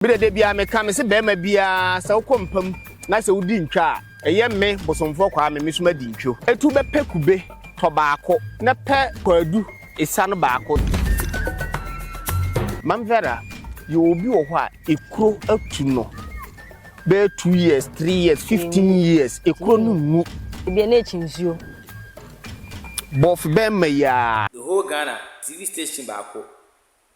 Me dede biara me ka me se barima biara sɛ wokɔ mpa mu na sɛ wodi ntwa a ɛyɛ me Bosomfoɔ Kwame me so madi ntwo. Etu bɛ pɛ kube tɔ baako na pɛ kwaadu esa no baako. Mam Vera yɛ obi wɔ hɔ a ekuro atu no bɛyɛ two years, three years, fifteen years ekuro no nwu. Ebia na ekyi nsuo. Bɔɔfo bɛɛma yi aa. The whole Ghana TV station baako.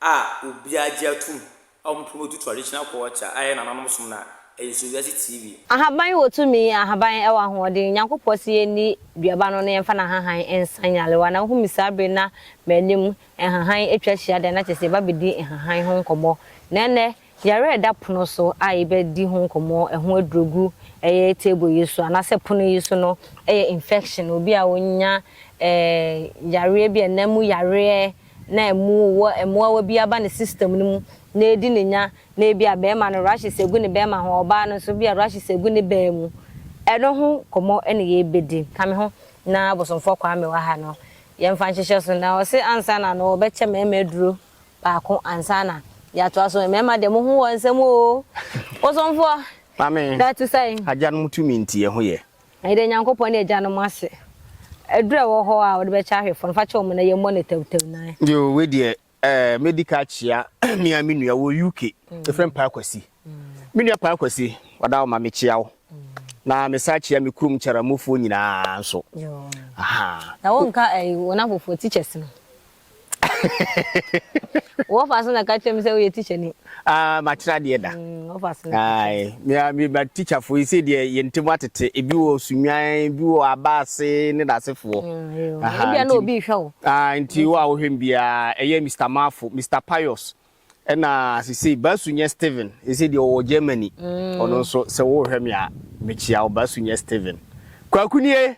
a obiara gye atom a wɔn pon odu traditional culture a ɛyɛ nananom som no a, ɛyɛ so wiase TV. Ahaban wɔ tumi, ahaban wɔ ahoɔden. Nyankopɔ se yɛnni duaba no na yɛmfa nahahan nsa nyarewa. Na wohu me saa bere na m'anim nhahan atwa ahyia dɛn na kyerɛ sɛ yɛba bedi nhahan ho nkɔmmɔ. Na ɛnnɛ Yare a ɛda pono so a yɛbɛdi ho nkɔmmɔ ɛho aduro gu ɛyɛ table yi so anaasɛ pono yi so no yɛ infection, obi a ɔnya ɛɛ yareɛ bi a ɛnam mu yareɛ na ɛmu wɔ ɛmoawa bi aba ne system no mu na ɛredi ne nya na ebi a bɛɛma no rashes ɛgu ne bɛɛma ho, ɔbaa no nso bi a rashes ɛgu ne baa mu. Ɛno ho nkɔmmɔ na yɛbɛdi. Ka me ho na Abosomfoɔ Kwame wɔ ha no yɛmfa nhyehyɛ so na ɔse ansa na no ɔbɛkyɛ mɛɛma aduro baako ansa na yɛatoa so. Mmarima deɛ mo ho wɔ nsɛm oo. Bosomfoɔ, na ɛte sɛn? Agyanom tumi nti yɛn ho yɛ. Yɛda Nyankopɔn ne agyanom ase. Aduru a ɛwɔ hɔ a wɔde bɛkyɛ ahwɛfoɔ no, fa kyɛ wɔn na yɛmmɔ no tawtaw nan. Yoo, wei deɛ ɛɛ mɛdi ka akyea me ara me nua wɔ UK. Yɛfrɛ no Paa Kwasi. Me nua Paa Kwasi, ɔda hɔ ma mekyea wo. Na mesan kyea me kurom Kyaramofoɔ nyinaa nso. Yoo. Aha. Na wonka ɛɛ wɔn afoforɔ teachers no? Wɔfa so na ka kyerɛ me sɛ woyɛ tikyani. Ah, makyerɛ adeɛ da. Mm, wɔfa so na ka kyerɛ me. Ae, me ma tikyafo yi sɛ deɛ yɛn ntam atete. Ebi wɔ Sunwan, ebi wɔ Aba ase ne n'asefoɔ. Mm, yo. Aha, Ebia na nti, obi rehwɛ wo. ah, nti wo a wohwɛ me biara, ɛyɛ Mister Mafo, Mister Pius, ɛna sesei Basu nyɛ Steven, sɛ deɛ ɔwɔ Germany. Ɔno nso, sɛ worehwɛ me a, mekyia wo, Basu nyɛ Steven. Kwaku nie!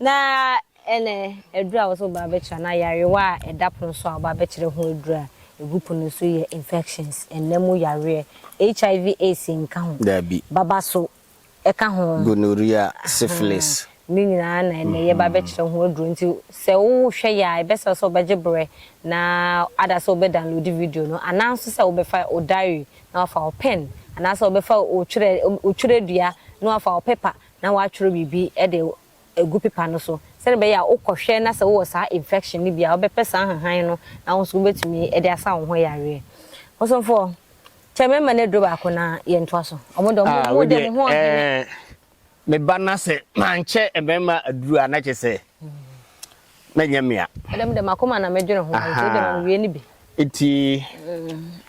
Na ɛnnɛ, aduru a wɔsɛ wɔba abɛkyerɛ anaa yarewa a ɛda pono so a wɔba abɛkyerɛ ho aduru a egu pono so yɛ infections, nna mu yareɛ, HIV, AIDS nka ho, Dabi. baba so ka ho. Gonorrhea, syphilis. Ahaa, ne nyinaa na ɛnnɛ yɛba abɛkyerɛ ho aduru. Nti sɛ wohwɛ yɛ a, ɛbɛsɛ sɛ wobɛgye berɛ na ada sɛ wobɛ download video no anaa nso sɛ wobɛfa wo diary na wafa wo pen anaa sɛ wobɛfa wo twerɛ, wo twerɛdua na wafa wo paper na woatwerɛ biribi de agu pepa no so sɛdeɛ ɛbɛyɛ a wokɔhwɛ na sɛ wowɔ saa infection no bi a wobɛpɛ saa nhahan no na wo nso wobɛtumi de asa wo ho yareɛ. Bosomfoɔ, kyɛ me mma no aduro baako na yɛntoa so. Wɔn deɛ wɔn mu deɛ mo ho ɔhene. Me ba na sɛ mankyɛ mmarima aduro a na kyɛ sɛ. na nyɛ me a. Ɛdɛm de m'akoma na medwene ho, nti wode ma mewie no bi. Nti.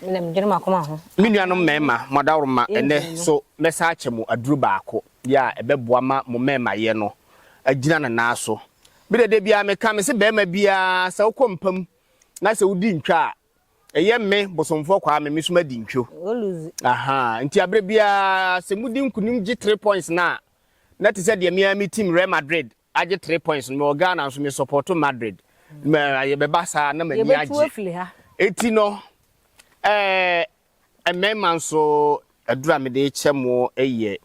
Me na medwene m'akoma ho. Me nuanom mmarima, mo adaworoma, ɛnnɛ, so mɛsan akyɛ mo aduru baako bi a ɛbɛboa ma mo mmarimayɛ no agyina ne nan so? Me de, da biara meka, mese barima biara, sɛ wokɔ mpa mu na sɛ wodi ntwa a, ɛyɛ me, Bosomfoɔ Kwame, me nso madi ntwa. Ahaa, nti aberɛ biara sɛ modi nkonim gye three points no a, na te sɛ deɛ me ara me team Real Madrid Agye three points no mewɔ Ghana nso me support Madrid mɛ yɛbɛba saa na m'ani agye eti no ɛɛ mmɛɛma nso aduru a mede kyɛ mo ɛyɛ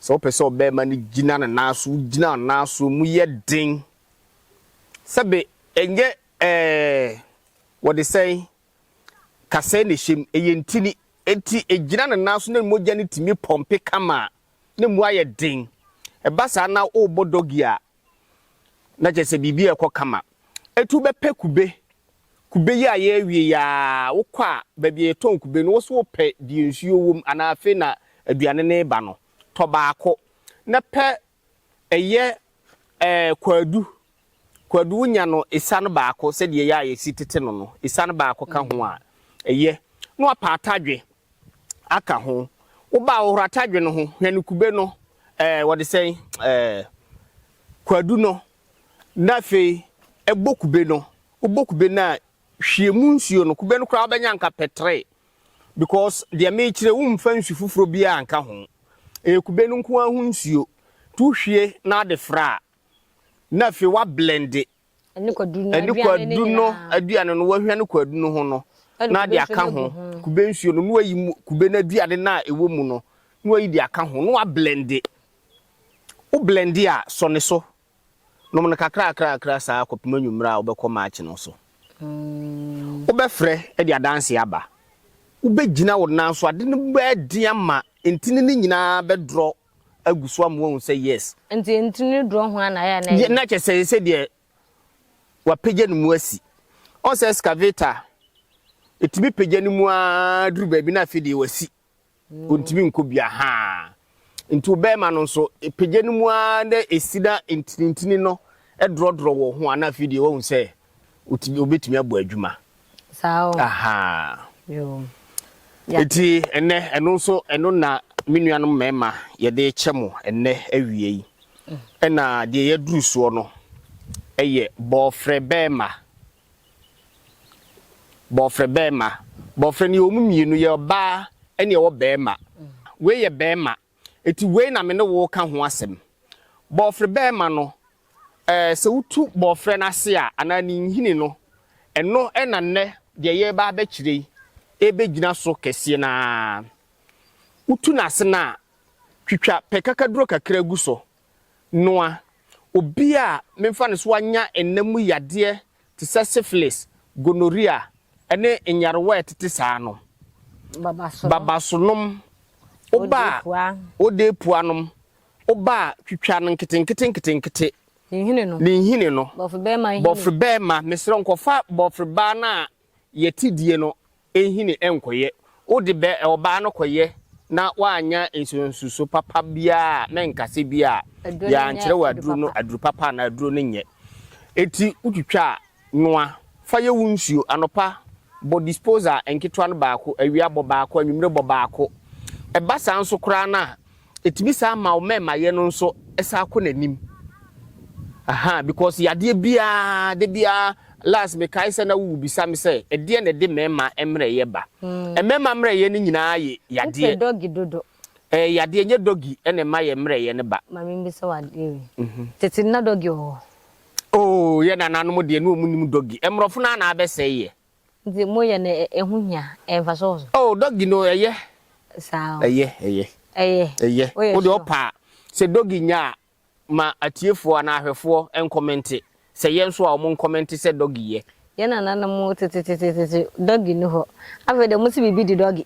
sɛ wopɛ sɛ ɔbɛɛma no gyina ne nan so wogyina wo nan so mu yɛ den sɛbe ɛnyɛ ɛɛ wɔde sɛn kasɛɛ na ɛhyɛ mu ɛyɛ ntini eti egyina ne nan so na mogya no tumi pɔmpe kama a na mu ayɛ den. Ɛba saa na wobɔ doggy a, na kyerɛ sɛ biribi rekɔ kama. Ɛtu bɛpɛ kube. Kube yi ayɛ awie yi ara, wokɔ a, baabi a yɛtɔn kube no, wo nso wopɛ deɛ nsuo wom anaa afei na aduane no reba no. Tɔ baako, na pɛ ɛyɛ ɛɛ kwaadu Kwadu nya no esiane baako sɛdeɛ ɛyɛ a yɛsi tete no no, esiane baako ka ho a, ɛyɛ. Na wapa atadwe aka ho. Wo ba a, hohoro atadwe no ho, hwɛ no kube no, ɛɛ, wɔde sɛn, ɛɛ, kwadu no, na afei bɔ kube no. Wobɔ kube no a, hwie mu nsuo no. Kube no koraa wobɛnya nka pɛtree because deɛ merekyerɛ yi, womfa nsu foforɔ biara nka ho. Ɛyɛ kube no nko ara ho nsuo. Nti wohwie na wode fra a, na afei wablɛnde ɛne kwadu no aduane no wahwia ne kwadu no ho no na ade aka ho kube nsuo no na wayi kube no aduane no a ɛwɔ mu no na wayi de aka ho na wablɛnde wo blɛnde a sɔ ne so nom no kakra kakra kakra saa akɔpem anwummerɛ a wobɛkɔ maakye no so mm. wobɛfrɛ de adanse aba wobɛgyina wo nan so ade no bɛɛden ama ntini no nyinaa bɛdorɔ agu so ama wahu sɛ yes. Nti nti ne duro ho a na ayɛ a na ɛyɛ. Na kyɛ sɛ sɛ deɛ wapagya ne mu asi. Ɔn sɛ excavator ɛtumi pagya ne mu ara duru baabi na afei deɛ wasi. Ɔntumi nkɔ bi ahaa. Nti wo bɛɛma no nso ɛpagya ne mu ara na ɛsi na ntini ntini no ɛdrɔdrɔ wɔ ho a na afei deɛ wahu sɛ ɔbɛtumi abɔ adwuma. saa o ahaa eti ɛnɛ ɛno nso ɛno na me nuanom mmarima yɛde kyɛ mo ɛnɛ awie yi mm. ɛna deɛ yɛduru soɔ no ɛyɛ bɔɔfrɛ bɛɛma bɔɔfrɛ bɛɛma bɔɔfrɛ no yɛ wɔn mmienu yɛ ɔbaa ɛne ɛwɔ bɛɛma mm. wei yɛ bɛɛma Enti wei na me ne wo reka ho asɛm. Bɔɔfrɛ bɛɛma no, ɛɛ, sɛ wotu bɔɔfrɛ no ase a, anaa ne nhini no, ɛno na nnɛ deɛ yɛreba abɛkyerɛ yi rebɛgyina so kɛseɛ no ara. Wotu no ase no a, twitwa pɛ kakaduro kakra gu so noa, obi a memfa no so anya nna mu yadeɛ te sɛ syphilis, gonorrhea, ne nyarewa a ɛtete saa no, babasonom, oba a odee pua nom, oba a twitwa no nketenkete nketenkete, ne nhini no, bɔfreba ma, mesrɛ wo nkɔfa bɔfreba no a yɛte die no nhini nkɔyɛ. Wode bɛ ɔbaa no kɔyɛ na woannya nsusuanso papa biara a, na nkasɛ bi a, yɛankyerɛ wo aduro no aduro papa anaa aduro no nyɛ. Enti wotwitwa a, noa. Fa yɛ wo nsuo. Anɔpa, bɔ disposal nketewa no baako, awia bɔ baako, anwummere bɔ baako. Ɛba saa nso koraa no a, Ɛtumi san ma wo mɛmayɛ no nso san kɔ n'anim ahaa because yadeɛ biara da biara last mekae sɛ na wo bisa me sɛ ɛdeɛ na ɛde mɛma mmerɛyɛ ba mɛma mmerɛyɛ no nyinaa yɛ yadeɛ wopɛ doggy dodo ɛyɛ yadeɛ nyɛ doggy na ɛma yɛ mmerɛyɛ no ba ma membisa wo adeɛ wei tete na doggy wɔ hɔ oo yɛ nananom deɛ na ɔmu nim doggy mmorɔfo no a na abɛsɛe yɛ. Nti mo yɛ no ɛho hia ɛyɛ nfaso wɔ so. Oh doggy no ɛyɛ. Saa o. Ɛyɛ ɛyɛ. Ɛyɛ. Ɛyɛ. Woyɛ sure. Wo deɛ ɔpɛ a sɛ doggy nya a ma atiefoɔ anaa ahwɛfoɔ nkɔmɛnte sɛ yɛ nso a ɔmo nkɔmɛnte sɛ doggy yɛ. Yɛ nananom tetetetete doggy ni hɔ afei deɛ ɔmo si biribi di doggy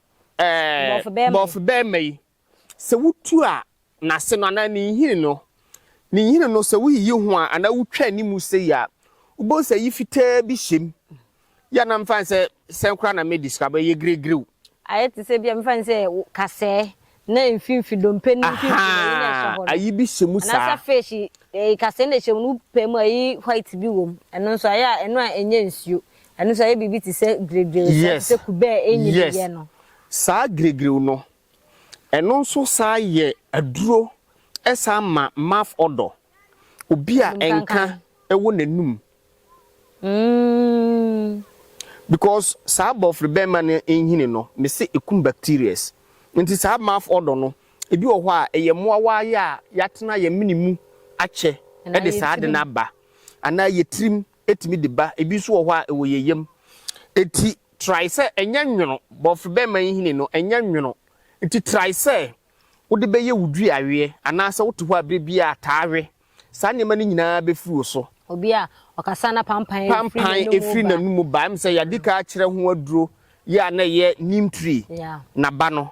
Ɛɛ, bɔfobɛrima yi, sɛ wutu a, n'ase no anaa ne nhini no, ne nhini no, sɛ wuyiyi ho a anaa wutwa anim sei a, wobɛhu sɛ ayi fitaa bi hyem. Yɛ a na mefa no sɛ sɛn koraa na medi sika, abɛyɛ giregire o. Ayɛ te sɛ ebia mefa no sɛ kasɛɛ Na mfimfini, dompe no mfimfini na ɛyɛ na ɛhyɛ hɔ no. Ayi bi hyɛ mu saa. Anaasɛ fish eh, kasee na ɛhyɛ mu no wopɛ mu a ɛyi white bi wɔ mu. Ɛno nso ayɛ a ɛno a ɛnyɛ nsuo. Ɛno nso ayɛ biribi te sɛ giregire saa, te sɛ kube a ɛnyi bi yɛ no. Saa giregire no, ɛno nso saa yɛ aduro, ɛsan ma mouth odour. Obi a nka wɔ n'anum Umm because saa bɔfre bɛɛma no nhini no mese ɛkum bacterias nti saa mouth odor no ɛbi wɔ hɔ a ɛyɛ mmoawa ayɛ a yɛatena yɛn mene mu akyɛ ɛde saa ade no aba anaa yɛ tirim ɛtumi de ba ɛbi nso wɔ hɔ a ɛwɔ yɛn yam ɛti try sɛ ɛnyɛ nwono bɔfre bɛɛma nhini no ɛnyɛ nwono ɛti try sɛ wode bɛyɛ wo dua aweɛ anaa sɛ wote hɔ a berɛ biara taa wɛ. Saa nneɛma no nyinaa bɛfiri wo so. Obi a ɔkasa na pampan firi n'anomu ba. Pampan firi n'anomu ba. Ɛm sɛ yɛadi ka akyerɛ ho aduro yi a na ɛyɛ neem tree n'aba no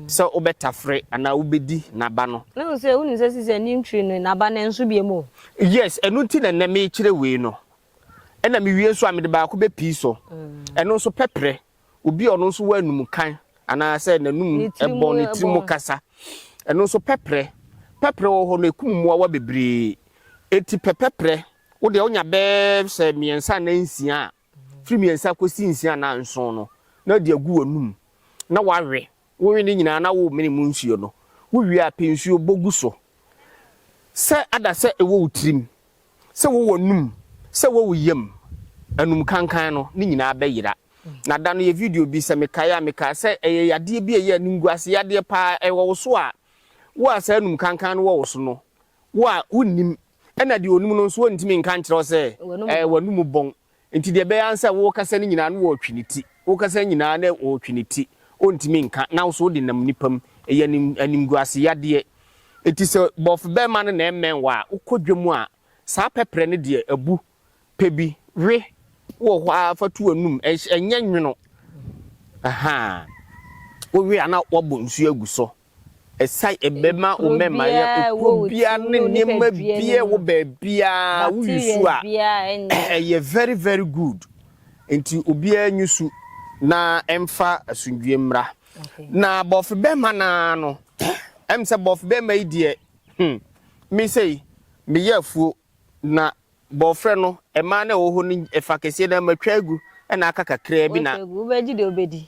sɛ wobɛtafere anaa wobɛdi n'aba no. Na wo sɛ wonim sɛ sisi a neem tree no n'aba no nso biam o. Yes, ɛno nti na nnɛ mekyerɛ wei no. Ɛna mewie nso a mede baako bɛpii so. Ɛno nso pɛprɛ obi a ɔno nso wɔ anum kan anaasɛ n'anum bɔn ne tiri mu kasa ɛno nso pɛprɛ pɛprɛ wɔ hɔ no ekum mmoawa bebree eti pɛpɛprɛ wo deɛ wonya bɛɛ sɛ mmiɛnsa na nsia a firi mmiɛnsa kɔsi nsia na nson no na de agu w'anum na wawe Wowe ne nyinaa na wo mene mu nsuo no, wo wie a pɛ nsuo bɔ gu so sɛ ada sɛ ɛwɔ wo tirim, sɛ wɔ w'anum, sɛ wɔ wo yam, anum kankan no ne nyinaa bɛ yera. Na da no yɛ video bi sɛ me kae a me kaa sɛ ɛyɛ yadeɛ bi a ɛyɛ animguase yadeɛ paa ɛwɔ wo so a wo a saa anum kankan no wɔ wo so no wo a wo nnim ɛna deɛ ɔnim no nso ɔntumi nka nkyerɛ wo sɛ ɛɛ w'anum bɔn Enti deɛ ɛbɛyɛ ara ne sɛ worekasa no nyinaa na wɔretwe ne ti, worekasa no nyinaa na wɔretwe ne ti, ɔntumi nka, na wo nso wode nam nnipa mu. Ɛyɛ anim, animguaseyadeɛ. Enti sɛ bɔfobɛrima no na ɛremmɛn wo a, wokɔ dwam a, saa pɛprɛ no deɛ, abu. Pɛ bi, we, wɔ hɔ ara fa to w'anum, ɛnhyɛ, ɛnyɛ nwono. Ahaa. Wowe a na woabɔ nsuo agu so. Ɛsan bɛma wo mmɛmmaeɛ kuro biara ne nneɛma biara wɔ baabiara wo yusu a ɛyɛ very very good nti obiara nyusu na ɛmfa asundue mmra na bɔfe bɛrima naa no ɛm sɛ bɔfe bɛrima yi deɛ hmm me sei meyɛ afuo na bɔfrɛ no ɛmaa na ɛwɔ hɔ no ɛfa kɛseɛ na matwa agu ɛna aka kakraa bi na wobɛgye deɛ wobɛdi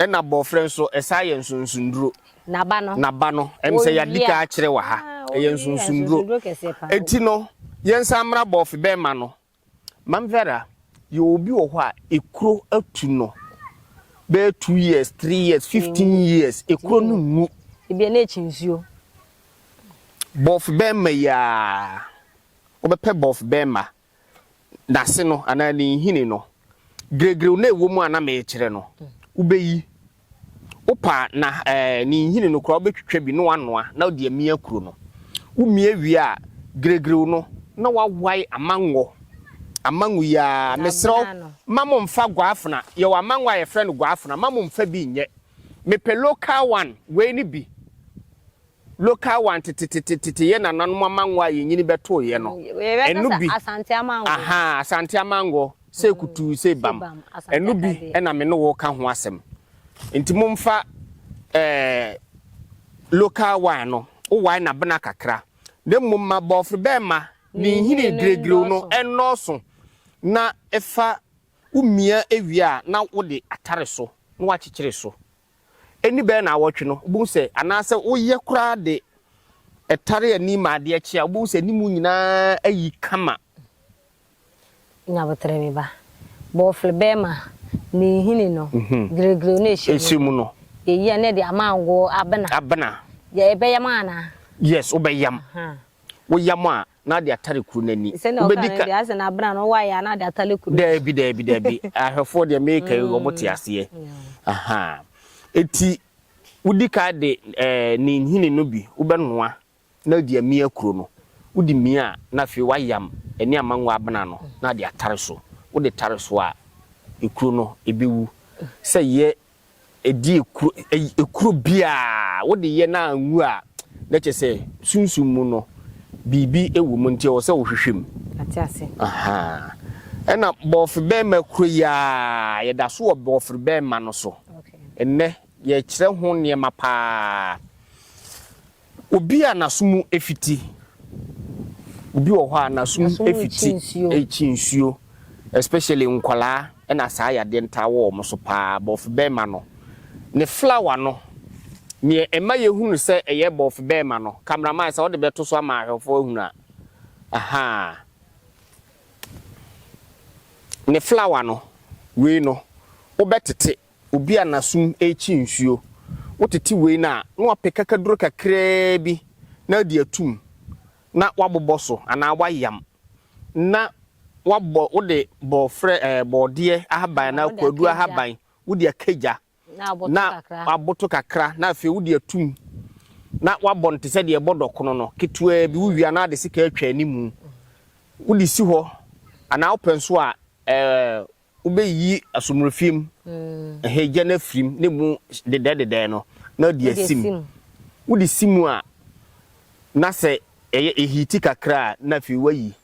Ɛna bɔɔfrɛ nso, ɛsaa yɛ nsonsonduro. N'aba no. N'aba no. Ɛm sɛ yɛadi ka akyerɛ wɔ ha. Ɛyɛ nsonsonduro. Eti no, yɛnsan mmra bɔɔfebɛmma no. Maame Vera, yɛwɔ obi wɔ hɔ a, ekuro atu no bɛyɛ two years, three years, fifteen years, ekuro no nwu. Ebia na ekyi nsuo. Bɔɔfebɛmma yi ara, wobɛpɛ bɔɔfebɛmma. n'ase no anaa ne nhini no, giregire no a ɛwɔ mu a na merekyerɛ no, wobɛyi. Wopa na ɛɛ ne nhini no koraa wobɛtwitwa bi na wanoa na wode amia kuro no. Womia wie a, giregire no na wawae amango. Amango yi ara, mesrɛ wo, ma mo mfa guafena. Yɛwɔ amango a yɛfrɛ no guafena, ma mo mfa bi nyɛ. Mepɛ local one, wei ne bi. Local one tetetetete yɛ nananom amango a yɛn nyini bɛtooeɛ no. Ɛno bi. Ahaa, Asante amango, sei kutuu, sei bam. Ɛno bi na me ne wo reka ho asɛm. Nti momfa eh, local one no, wowae no abena kakra, na mmom ma bɔɔfrobɛɛma ne nhini giregireo no nnɔɔso, na fa womia wie a na wode atare so na woakyekyere so Ɛnni bɛyɛ nnawɔtwe no, wobɛhu sɛ, anaasɛ woyɛ koraa de ɛtare ani ma adeɛ kye a, wobɛhu sɛ ne mu nyinaa ayi kama. Nyaboterɛ bi ba. Bɔɔfle bɛɛma ne nhini no, giregire no ɛhyɛ mu no. Ɛhyɛ mu no. Yɛyi a, na yɛde ama ngo abena. Abena. Yɛbɛyam anaa? Yes, wobɛyam. Woyam a. na ade atare kuru no ani. Sɛnea ɔkaa Wobɛdi no ka. deɛ, ayɛ sɛ n'abena no wae ara na ade atare kuru no. Daabi, daabi, daabi. Ahwɛfoɔ deɛ mereka yi, wɔte aseɛ. Aha. Enti, wodi kan de ɛɛ ne nhini no bi, wobɛnoa na wode amia kuro no. Wode mia a, na afei woayam ɛne amangɔ abena no na ade atare so. Wode tare so a, ekuro no, ɛbɛwu. Sɛ yɛ Ɛdi ekuro ɛyi ekuro biara wo de yɛ na anwu a na kyɛ sɛ sunsum mu no biribi wɔ mu nti ɛwɔ sɛ wo hwehwɛ mu. Mate ase. Ahaa ɛna bɔɔfebɛɛma kuro yi aa yɛ da so wɔ bɔɔferebɛɛma no so. Okay. Nnɛ yɛ kyerɛ ho nneɛma paa. Obi a n'aso mu afiti. Obi wɔ hɔ a n'aso mu afiti rekyi nsuo especially nkwadaa ɛna saa yadeɛ no taa wɔ wɔn so paa bɔɔfe bɛɛma no ne flower no neɛ ɛma yɛ hunu sɛ ɛyɛ bɔɔfe bɛɛma no camera man sɛ ɔde bɛto so ama ahwɛfoɔ ahunu a ahaa ne flower no wei no wobɛtete Obi a n'asom rekyi nsuo. Wotete wei no a, na wapɛ kakaduro kakraa bi na adi atum na wabobɔ so anaa wayam na wabɔ, wode bɔɔfrɛ, ɛɛ bɔɔdeɛ ahaban anaa kwadu ahaban wode aka gya na aboto kakra na afei wode atum na wabɔ no te sɛ deɛ ɛbɔ dɔkono no ketewaa bi, wowie a na wode sekaa atwa animu wode si hɔ anaa wopɛ nso a ɛɛ Wobeyi asomrefie mu nhɛgya no afiri mu, ne mu dedɛɛdedɛɛ no, na ɔde asi mu. Wode si mu a, na sɛ ɛyɛ ehiiti kakra a, na afei woayi.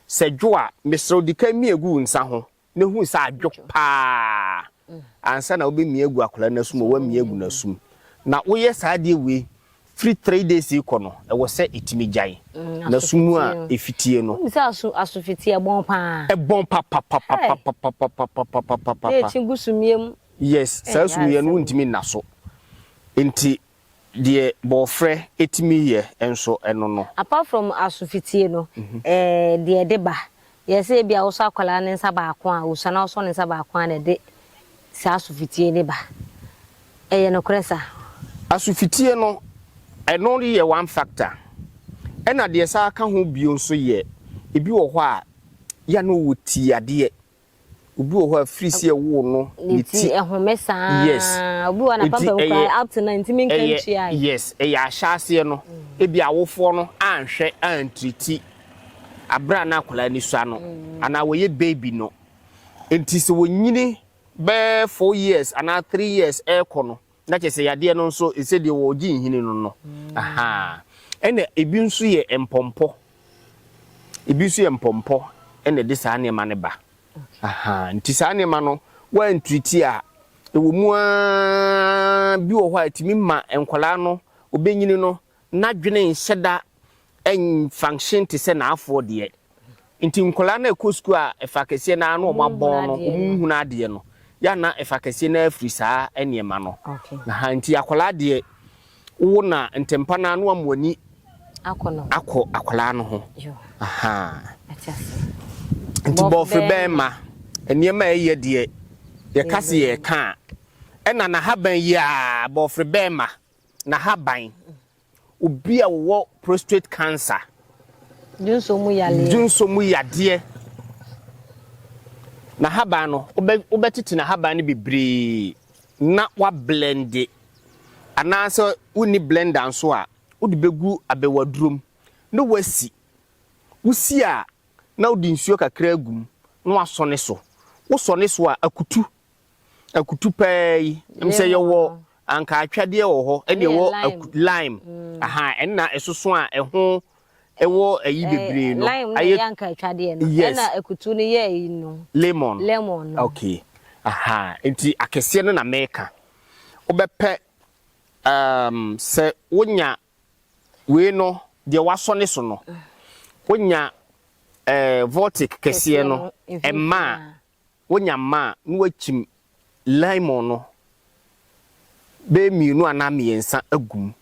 Sɛ ɛdwo a, mesrɛ wo, di kan mia gu wo nsa ho na hu sɛ adwo pa ara ansa na wobɛmia agu akwadaa no asom, woamia agu n'asom. Na woyɛ saa adeɛ wei. Firi three days yi kɔ no ɛwɔ sɛ ɛtumi gyae na su mu a ɛfitie no. Wonim sɛ aso aso fitie ɛbɔn paa. Ɛbɔn papapapapapapapapapapapa. Na ɛkyi gu sumiiɛ mu. Yes saa sumiiɛ no wontumi nna so nti deɛ bɔɔfrɛ ɛtumi yɛ nso ɛno no. Apart from aso fitie no ɛɛ deɛ ɛde ba Yɛ sɛ ebia wosɔ akwadaa no nsa baako a, osua na wosɔ ne nsa baako a na ɛde saa asɔfetie no ba. Ɛyɛ nokorɛ saa? Asɔfetie no, ɛno yɛ one factor. Ɛna deɛ ɛsan ka ho bio nso yɛ, ebi wɔ hɔ a, yɛ a na ɔwɔ tiadeɛ. Obi wɔ hɔ a firi si ɛwoo no ne ti ne ti ɛhome saa yes obi wɔ hɔ na pampam kura up to now ntumi nka ntua yi yes ɛyɛ ahyɛ aseɛ no ebi awofoɔ no anhwɛ antiriti abere a na akwadaa ni sua no anaa wɔyɛ baby no nti sɛ wɔnyini bɛɛ four years anaa three years ɛrekɔ no Na kyerɛ sɛ yadeɛ no nso sɛ deɛ wɔregye nhini no no. Ahaa. Ɛna ebi nso yɛ mpɔmpɔ. Ebi nso yɛ mpɔmpɔ na ɛde saa nneɛma no ba. Ahaa. Nti saa nneɛma no woantiriti a, ɛwɔ mu ara bi wɔ hɔ a ɛtumi ma nkwadaa no, ɔbɛnyini no, N'adwene nhyɛ da nfunction te sɛ n'afoɔ deɛ. Nti nkwadaa no a ɛkɔ sukuu a ɛfa kɛseɛ no ara na wɔabɔn no, wɔnhunu adeɛ no, yɛ a na ɛfa kɛseɛ no ara firi saa nneɛma no. Aha, nti akwadaa deɛ, wowo no a, ntɛmpa no ara na wɔama w'ani akɔ akwadaa no ho. Aha. Nti bɔfe bɛrima, nneɛma a ɛyɛ deɛ, yɛka se yɛreka a, ɛna n'ahaban yi ara, bɔfe bɛrima. n'ahaban, obi a ɔwɔ prostate cancer, dunso mu yadeɛ, dunso mu yadeɛ, n'ahaban no wobɛtete n'ahaban no bebree na wablende anaasɛ wonni blender nso a wode bɛgu abɛwadurom na wasi wosi a na wode nsuo kakra agum na wasɔ ne so wosɔ ne so a akutu akutu paa yi ɛm sɛ yɛwɔ anka atwadeɛ wɔ hɔ ɛne ɛwɔ lime mm. aha ɛna ɛsoso a ɛho ɛwɔ ayi eh, bebree no lime ayɛ anka atwadeɛ no yes ɛna akutu no yɛ ayi no lemon lemon no okay aha nti akɛseɛ no na mɛka wobɛpɛ um, sɛ wonya wei no deɛ wasɔ ne so no wonya eh, voltic kɛseɛ no ɛma a Wonya mma a, na woakyim lemon no bɛyɛ mmienu anaa mmiɛnsa agu mu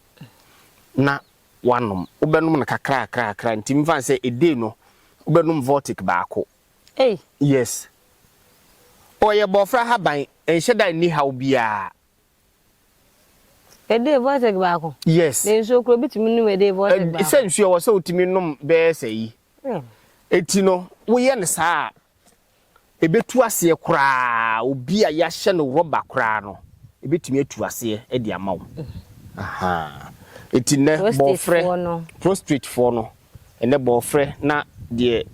na woanom. Wobɛnom no kakrakrakra nti mfa no sɛ a day no wobɛnom vortic baako. Ei! Yes. Ɔyɛ bɔɔfrɛ ahaban, ɛnhyɛ da nni haw biara. A day vortic baako? Yes. Na nsuo koraa wobɛtumi nom a day vortic baako? Sɛ nsuo a, ɛwɔ sɛ wotumi nom bɛyɛ sɛ ayi, Enti no, woyɛ no saa a, ɛbɛtu aseɛ koraa, obi a yɛahyɛ no rɔba koraa no, ɛbɛtumi atu aseɛ de ama wo. Enti nnɛ bɔɔfrɛ, prostratefoɔ no, ɛnɛ bɔɔfrɛ na deɛ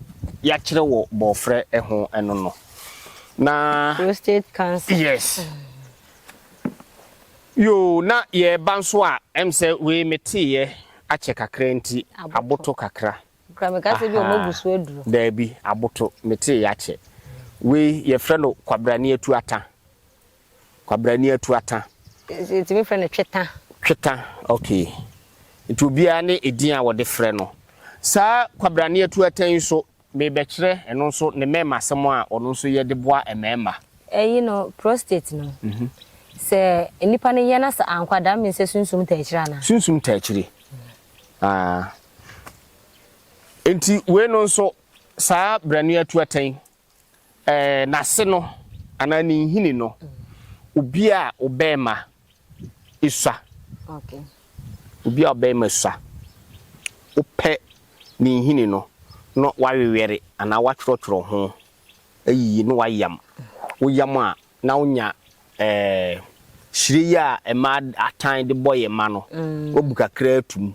yɛakyerɛ wɔ bɔɔfrɛ ho no no. Na. Prostate cancer. Yes. Yoo na yɛɛba nso a ɛm sɛ wei me teeyɛ akyɛ kakra nti aboto kakra ahaa daabi aboto me teeyɛ akyɛ wei yɛfrɛ no kwabrane atuata kwabrane atuata yɛtumi frɛ no tweta tweta ok nti obiara ne edin a wɔde frɛ no saa kwabrane atuata yi nso Merebɛkyerɛ ɛno nso ne mmarimasɛm a ɔno nso yɛ de boa mmarima. Eyi no, prostate no, sɛ nnipa no yɛ na sɛ ankɔ a, that means sɛ sunsum taa akyiri anaa? Sunsum taa akyiri. Ah. Enti wei no nso, saa berɛ no yɛatu atɛn. Ɛɛ, n'ase no, anaa ne nhini no, obi a ɔbarima sua. Obi a ɔbarima sua. Wopɛ ne nhini no na woawewɛre anaa woatwerɛtwerɛ ho ayiyi na woayam. Woyam a, na wonya ɛɛ hyire yi a mmaa atan de bɔ yɛn mma no, woabu kakra atom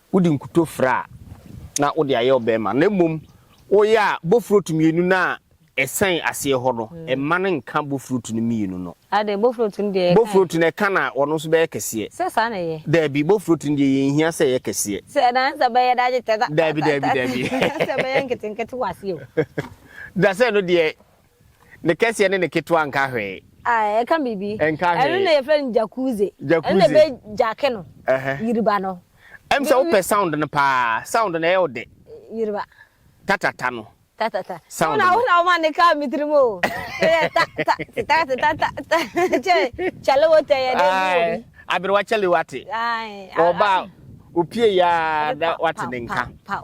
wode nkuto fra a, na wode ayɛ wo bɛrima, na mmom woyɛ a, bofurotu mmienu no a ɛsɛn aseɛ hɔ no, mma no nka bofurotu no mmienu no. Adɛn, bofurotu no deɛ ɛka ɛ? Bofurotu no ɛka na ɔno nso bɛyɛ kɛseɛ. Sɛ saa na ɛyɛ? Daabi, bofurotu no deɛ yɛnhia sɛ ɛyɛ kɛseɛ. Sɛ ɛdan sɛ bɛyɛ da gye tɛ da. Daabi, daabi, daabi. Ɛsɛ sɛ bɛyɛ nketenkete wɔ aseɛ o. Da sɛ no deɛ Ne kɛseɛ ne ne ketewa nka hwee. Ae, ɛka biribi. Ɛnka hwee. Ɛno na yɛfrɛ no jacuzzi. Jacuzzi. Ɛno na ɛbɛ jacke no. Ɛhɛ. Yiriba no. Ɛm sɛ wopɛ sound no paa. Sound no ɛyɛ wo dɛ. Yiriba. Tatata no. Tatata. Sound no. Wo na wo ma ne kaa me tirim o. Ɛyɛ ta ta te ta te ta ta ta. Kyɛ kyale wo tɛ yɛ dɛ bi wo bi. Aberewa kyale wate. Ae. Ɔba opie yaa da wate ne nka. Pow pow.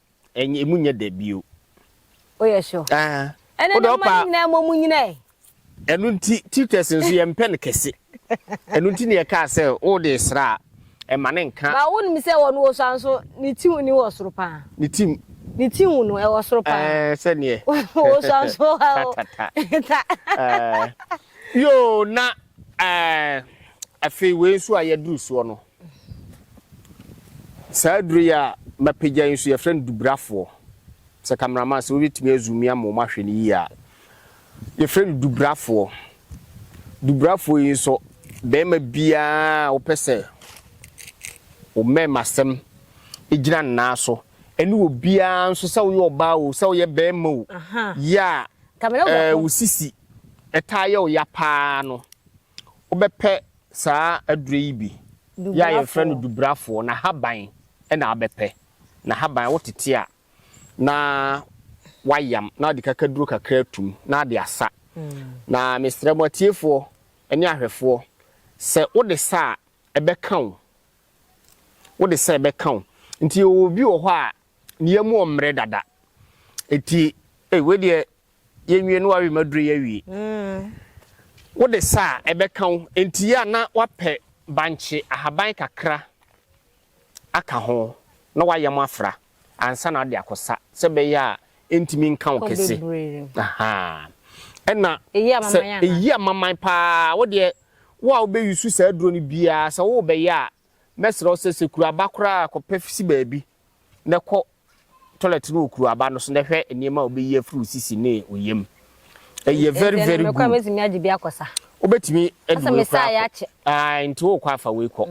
Ɛnyɛ emu nyɛ dɛ bio. O yɛ sure. Ɛɛ. Ɛnɛ na mma ne nyinaa mmɔ mu nyina ɛ. Ɛno nti tutors nso yɛn mpɛ no kɛse. Ɛno nti na yɛ kaa sɛ wo de sra a ɛma ne nka. Ba wo nim sɛ wɔn wɔ so anso ne ti ni wɔ soro paa. Ne ti. Ne ti hu no ɛwɔ soro paa. Ɛɛ sɛ neɛ. Wɔ so anso ha o. Ta ta ta. Ɛɛ. Yoo na ɛɛ afei wei nso a yɛ duru soɔ no. Saa aduru yi a mapagya yi nso yɛfrɛ no duburafoɔ. Sɛ cameraman sɛ wobɛtumi a zoom in ama wɔn ahwɛ no yie a. Yɛfrɛ no duburafoɔ. Duburafoɔ yi nso barima biara a wopɛ sɛ wo mmarimasɛm gyina ne nan so ɛne obiara nso sɛ woyɛ ɔbaa o sɛ woyɛ barima o yɛ a wo sisi ɛtaa yɛ wo ya paa no Wobɛpɛ saa aduro yi bi yɛ a yɛfrɛ no dubrafoɔ, n'ahaban na wobɛpɛ. N'ahaban wotete a na wayam na wode kakaduro kakra atum na ade asa. Na mesrɛ mo atiefoɔ ne ahwɛfoɔ sɛ wode sa a ɛbɛka wo, wode sa ɛbɛka wo. Nti yɛwɔ obi wɔ hɔ a ne yam ɔmmerɛ dada, nti ei wei deɛ Yɛnwie na w'awe mu aduro yi awie. Wode sa a, ɛbɛka wo. Enti yɛ a na wapɛ bankye ahaban kakra aka ho na w'ayam afra ansa na wode akɔsa sɛ ɛbɛyɛ a ɛntumi nka wo kɛse. Ɛna sɛ ɛyi amaman paa, wodeɛ wo a wobɛyusu saa aduro no biara sɛ worebɛyɛ a, Mɛsrɛ wo sɛ, sɛ kuru aba koraa a, kɔpɛ si baabi na kɔ toilet no wɔ kuru aba no so na hwɛ nneɛma a wobɛyi afiri wo sisi ne wo yam. Ɛyɛ very very good. Mekora mɛtumi agye bi akɔ sa. Wobɛtumi adi wei koraa akɔ. Ae, nti wokɔ afa wei kɔ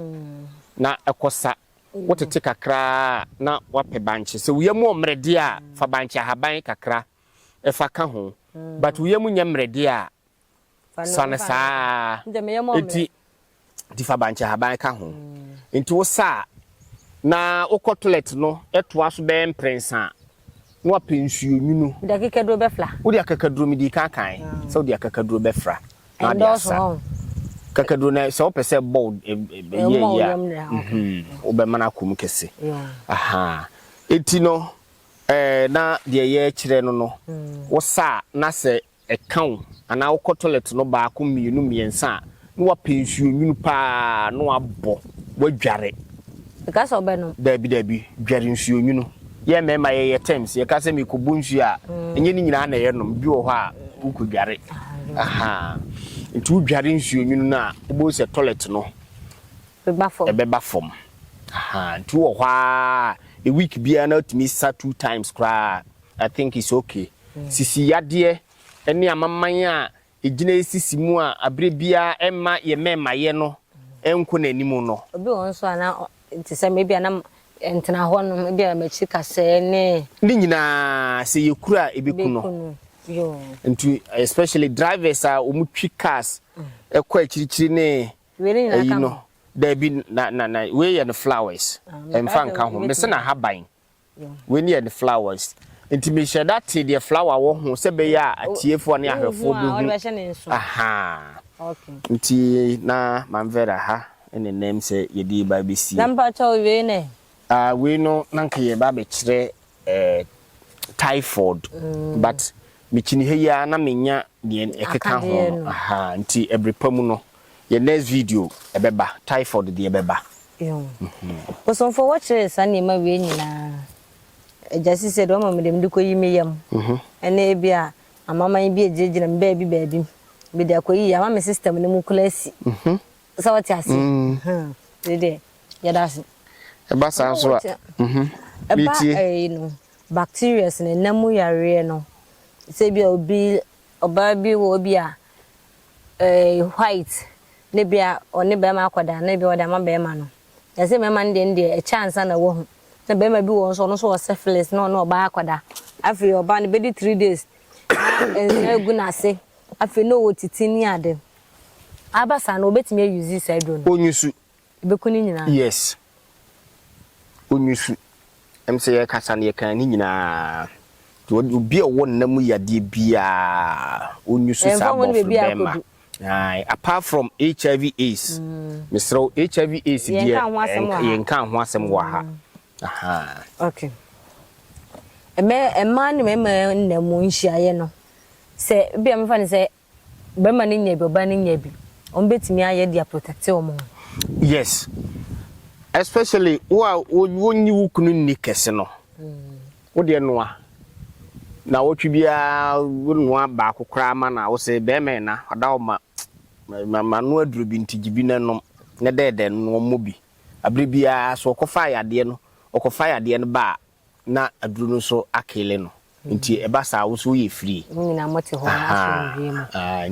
na ɛkɔ sa. Wotete kakraa na wapɛ bankye. Sɛ wo yam wɔ mmerɛdeɛ a, fa bankye ahaban kakra fa ka ho. But wo yam nyɛ mmerɛdeɛ a, sane saa ara, enti nti fa bankyehaban ka ho. Nti wo sa a, na wokɔ toilet no toa so bɛyɛ mprɛnsa a, na wapɛ nsuo nwunu. Wode akekaduro bɛfra. Wode akekaduro, medii kan kan sɛ wode akekaduro bɛfra. Ɛndɔɔso hɔ. Kakaduro no sɛ wopɛ sɛ bɔ yɛ yɛ a, wobɛmana akɔ mu kɛse. Eti no, na deɛ yɛkyerɛ no no, wo sa a na sɛ ɛka wo anaa wokɔ tɔlɛt no baako mmienu mmiɛnsa a na wapɛ nsuo nwunu paa na wabɔ wadware. Ɛka sɛ ɔbɛnom. Daabi daabi dware nsuo nwunu yɛn mmarima yɛyɛ terms yɛka sɛ mekɔbɔ nsuo a ɛnyɛ ne nyinaa na ɛyɛ nom bi wɔ hɔ a wokɔ dware ahaa nti wodware nsuo nwunu no a wobɛhu sɛ tɔlɛt no ɛbɛba fam ahaa nti wowɔ hɔ a a week biara na watumi sa two times koraa. I think it's ok. Sisi yadeɛ ne amaman a ɛgyina ɛsisi mu a aberɛ biara ɛmma yɛ mɛmayɛ no nkɔ n'anim no. Obi wɔ hɔ nso a na te sɛ me ebia na ntena hɔ nom ebia m'akyi kasɛɛ ne. Ne nyinaa sɛ yɛ kuru a ɛbɛku no. Nti especially drivers a wɔn twi cars ɛkɔ akyirikyiri ne ɛyi no daabi na na na wei yɛ no flowers ɛnfa nka ho mese no ahaban. Wei ne yɛ ne flowers. Nti me hyɛ da te deɛ flower wɔ ho sɛ bɛyɛ a atiefoɔ ne ahwɛfoɔ bɛ hu. Ahaa. Nti na Mam Vera ha ne nnɛm sɛ yɛde reba abɛsie. Na mpakyɛ o wei ne? Ah wei no na nka yɛ ba abɛkyerɛ eh typhoid but me kyini ha yi ara na me nya deɛ ɛkeka ho no. Ahaa nti ɛbere pa mu no. Yɛ next video ɛbɛba typhoid deɛ bɛba. Ehu. Bosomfoɔ wɔkyerɛɛ saa nneɛma wei nyinaa Agya Sisi sɛ deɛ ɔma me deɛ mede kɔyi me yam ne ebia amanaman bi agyinagyina me baabi baabi mede akɔyi yɛ ama me system no mu koraa asi. Sɛ wote ase? Aha. Wei deɛ yɛda ase. Ɛba saa nso a, mhm. Ɛba ɛyi no bacterias no, ɛnam mu yareɛ no sɛ ebia obi ɔbaa bi wɔ ebia eh, white, na ebia ɔne barima akɔda, na ebia ɔde ama barima no. Ɛsɛ sɛ mmarima no deɛ no deɛ, ɛkyɛ ansa na wahu. Na barima bi wɔ hɔ nso, ɔno nso wɔ syphilis, na ɔne ɔbaa akɔda. Afei ɔbaa no bɛdi three days, na nsa agu n'ase, afei na ɔwɔ titi ne ade. Aba saa no, wɔbɛtumi ayuzi saa aduro no. Onyusu, Ɛbɛku ne nyinaa. Yes. Ɔnyusu. Ɛm sɛ yɛkasa no yɛkaa ne nyinaa. Nti obi a ɔwɔ nna mu yadeɛ biara ɔnyusu saa bɔforo bɛrima. Aye. Apart from HIV AIDS. Mm. Mesrɛ wo HIV AIDS deɛ yɛnka ho asɛm wɔ ha. Mm. Okay. Ɛmɛ mmaa ne mmarima nna mu nhyiaeɛ no sɛ bia mefa no sɛ bɛrima no nya bi ɔbaa no nya bi wɔn bɛtumi ayɛ de aprotɛkte wɔn ho. Yes especially wo a wonnye wo kunu nni kɛse no wo deɛ noa na wɔtwe biara wo noa baako koraa ma no a wo se bɛrima ɛna ɔda wo ma ma no aduro bi nti gye bi na nom na dɛɛdɛ no wɔmmɔ bi abere biara so ɔkɔfa yadeɛ no ɔkɔfa yadeɛ no ba a na aduru no nso akele no nti ɛba saa wo nso woyɛ free mo nyinaa mo te hɔ na asomdwie mu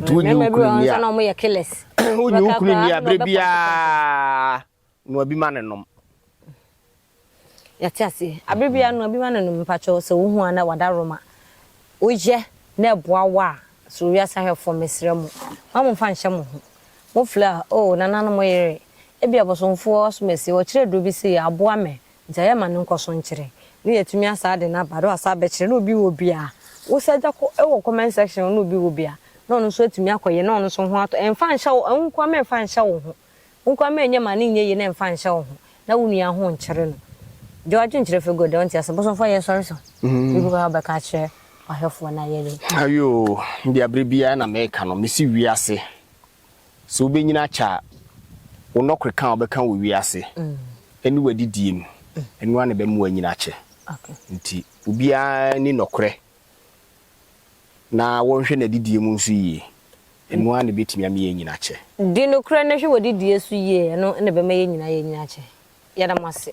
nti wo nyi okunu ni a mo yɛ killers wo nyi okunu ni a bere bia noa bi ma ne nom yɛte ase abere bia noa bi ma ne nom mpakyɛw sɛ wo hu a na wada roma woyɛ na ɛboa wo a soro wiase ahwɛfoɔ mesrɛ mo ma mo mfa nhyɛ mo ho mo fla oh nananom yere ebi abosomfoɔ asomasie wɔkyerɛ duro bi sei aboa me Gya yɛ ma no nkɔ so nkyerɛ ne yɛatumi asa ade no aba do asa abɛkyerɛ na obi wɔ bi a wo sɛ gya kɔ wɔ comment section hɔ na obi wɔ bi a na ɔno nso atumi akɔ yɛ na ɔno nso ho atɔ ɛmfa nhyɛ wo wo nkoa ma ɛmfa nhyɛ wo ho wo nkoa ma ɛnyɛ ma no nyɛ yie na ɛmfa nhyɛ wo ho na wo nua ho nkyere no gya w'adwene nkyerɛ fɛ good ɔnte ase bosomfo ayɛ sɔre so biribi wɔ ha wobɛka akyerɛ ɔhwɛfoɔ no ayɛ dɛ. Ayoo, deɛ berɛ biara na meka no mese wiase Sɛ wubenyin akyɛ a, wo nnɔkɔeka a wobɛka wɔ wiase ne w'adidie mu, ɛno ara na ɛbɛma woanyin akyɛ. Enti obiara nni nɔkorɛ na wɔnhwɛ n'adidie mu nso yie, ɛno ara na ɛbɛtumi ama yɛanyin akyɛ. Di nokorɛ na hwɛ w'adidie so yie, ɛno na ɛbɛma yɛn nyinaa yɛanyin akyɛ. Yɛda mo ase.